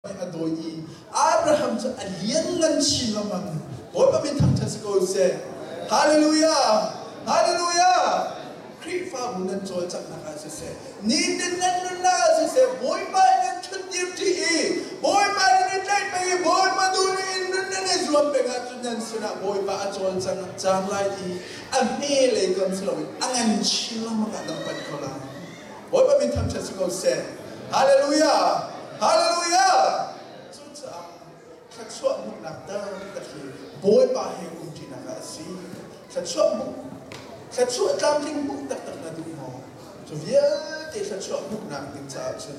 a dawi i Abraham cu a lianlan chin lengmang Bawipa min thangṭhat si ko seh Hallelujah Hallelujah Khrihfabu nan cawlcanghnak ah siseh nitin nan nunnak ah siseh Bawipa in nan ṭhutdir ṭi i Bawipa nan i tlaih peng i Bawipa duhning in nun nan i zuam peng ahcun nan sinah Bawipa a cawlcang lai i a hme lei kam si loin a ngan chin lengmang ah nan panh ko lai Bawipa min thangṭhat si ko seh. Hallelujah! Hallelujah! Cucaah thluachuah hmuhnak taktak hi Bawipa he umṭinak ah a si. Thluachuah hmuh, thluachuah tlamtling hmuh taktak na duh maw? Cu vialte thluachuah hmuhnak ding caah cun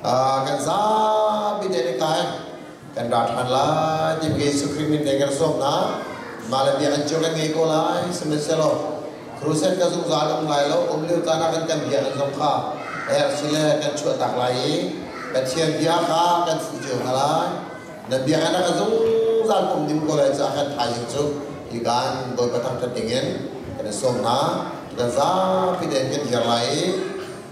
kan zapi te le kai kan ra than lai ti mi Yesu Khrih min le kan sawm na mah le bia an cu kan ngei ko lai sihmanhsehlaw crusade ka zungzal um lai lo um lio caan ah kan kan bia kan zong kha ersi le kan chuahtak lai i Pathian bia kha kan fuh cio hna lai na bia na ka zungzal um ding ko lai caah kan thaizing cu i kan Bawi Patang Tha dingin kan i sawm hna kan zapi te kan dir lai i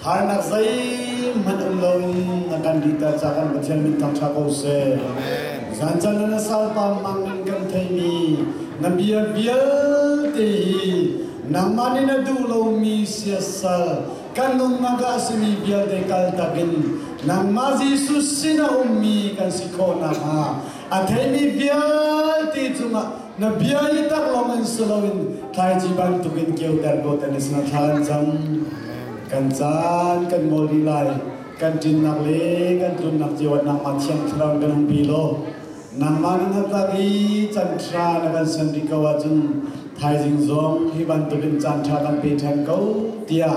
Harnak zeihmanh um lo na kan dihter ca kan Pathian mit thangṭha ko seh. Zan chan na salpa mang in kan theimi na bia vialte hi nangmah nih na duh lomi siasal kan nungnak ah a simi vialte kal takin nangmah Jesuh sin a ummi kan si khawh nakhnga a theimi vialte cungah Na bia i tak lawng in si loin thlaici bantuk in kioter dawt an i sanathlal an cang. Kan caan kan ngol rih lai. Kan ṭinnak le kan tlunnak cio ah nangmah thiang thlarau in kan hung pi law nangmah nih na tak i canṭha na kan sian rih ko ahcun thaizing zong hi bantuk in caanṭha kan pe ṭhan ko tiah